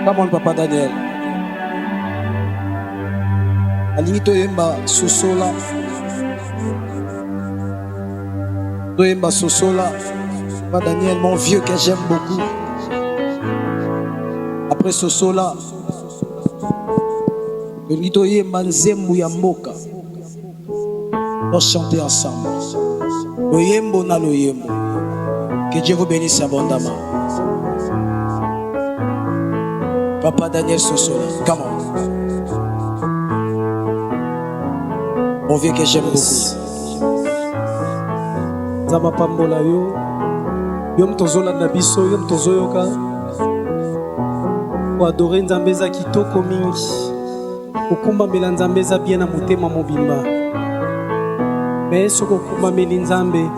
Come on, Papa Daniel. Alingi toyemba sosola. Toyemba sosola. Papa Daniel, mon vieux que j'aime beaucoup. Après sosola. Tolingi toyemba nzembo ya mboka. Pour chanter ensemble. Loyembo na loyembo. Que Dieu vous bénisse abondamment. Papa Daniel Sosola, come on. Mon vieux que j'aime beaucoup. Zama pambola yo. Yo moto ozolanda biso, yo moto ozoyoka. Koadore Nzambe eza kitoko mingi. kokumbamela nzambe eza bien na motema mobimba me soki okumbameli nzambe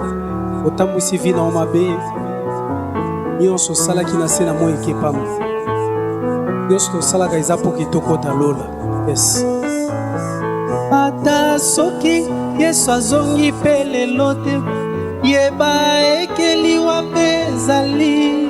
otambwisi vi na yo mabe nyonso osalaki na se na moi ekepama nyonso tosalaka eza mpo kitokota lola yes ata soki yesu azongi mpe lelo te yeba ekeliwa mpe ezali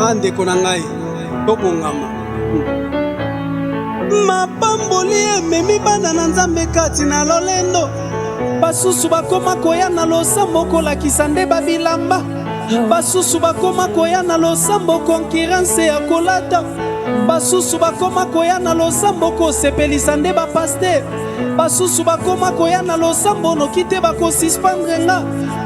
Ah ndeko na ngai, tobongama. Mapamboli ememi bana na Nzambe kati na lolendo. Basusu bakoma koya na losambo kolakisa nde babilamba. Basusu bakoma koya na losambo konkiranse ya kolata. Basusu bakoma koya na losambo kosepelisa nde bapaster. Basusu bakoma koya na losambo noki te bakosispandre nga.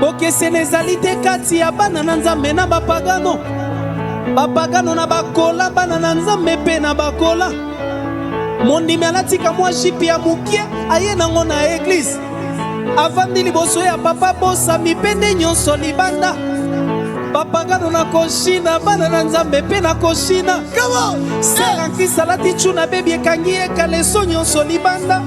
bokesene ezali te kati ya bana na nzambe na bapagano bapagano na bakola bana na nzambe mpe na bakola mondimi alatika mwa jipe ya moke aye nango na eglize avandi liboso ya papa bosami mpe nde nyonso libanda bapagano na koshina bana na nzambe mpe na koshina selankisa alati cuna bebi ekangi ye kaleso nyonso libanda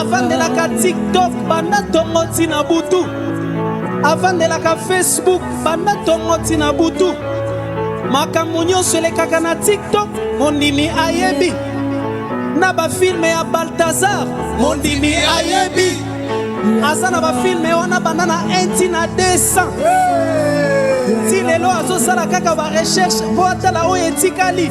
avandelaka tiktok banda tongo ntina butu avandelaka facebook banda tongo ntina butu makambo nyonso elekaka na tiktok mondimi ayebi na bafilme ya baltazar mondimi ayebi aza na bafilme wana banda na 1 ntina 200 ti lelo azosala kaka barecherche mpo atala oyo etikali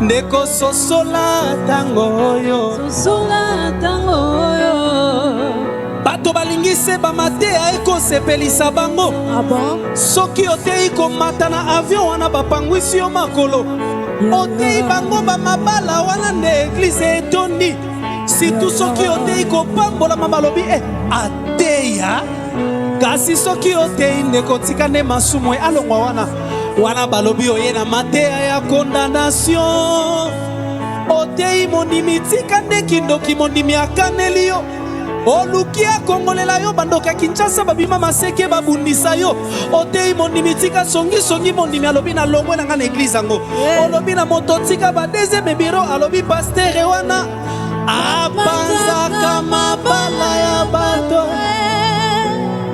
ndeko sosola ntango oyo sosola ntango oyo bato balingi se bamateya ekosepelisa bango ah bon? soki oteyi komata na avio wana bapangwisi yo makolo oteyi bango bamabala wana nde eglize etondi situ soki oteyi kopambolama balobi e eh, ateya kasi soki oteyi ndeko tika nde masumu alongwa wana wana balobi oye na mateya ya condamnation oteyi mondimi tika nde kindoki mondimi akaneli yo oluki akongolela yo bandoki ya kinshasa babima maseke babundisa yo oteyi mondimi tika songisongi mondimi alobi na longwe na ngai na eglize yango olobi na moto tika ba deuxième biro alobi pastere wana Apanzaka mabala ya bato.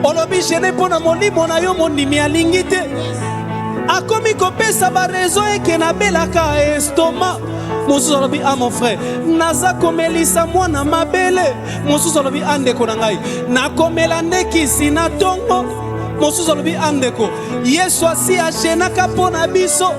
Olobi gene mpo na molimo na yo mondimi alingi te. Akomi kopesa barezo eke nabelaka estoma mosusu alobi a ah, mon frère naza komelisa mwana mabele mosusu alobi a ah, ndeko na ngai nakomela nde kisi na ntongo mosusu alobi a ah, ndeko yesu asi ajenaka mpo na biso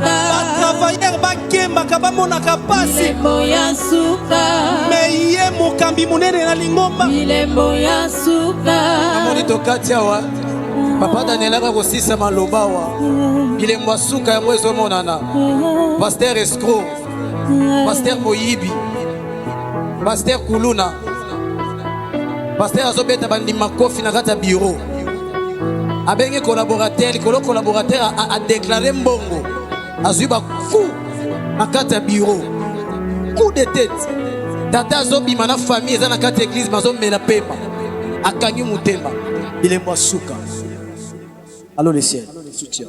batravailleur bakembaka bamonaka mpasi me ye mokambi monene na lingomba amoni tokati awa papa danielaka kosisa maloba awa bilembo ya suka yango ezomonana paster escro paster moyibi paster kuluna paster azobeta bandima kofi na kati ya biro abengi collaborateur likolo collaborateur adeklare mbongo azwi baku na kati ya biro coup de tete tata azobima na famille eza na kati ya eglize mazomela pema akangi motema bilembo ya suka alo le ciel soutien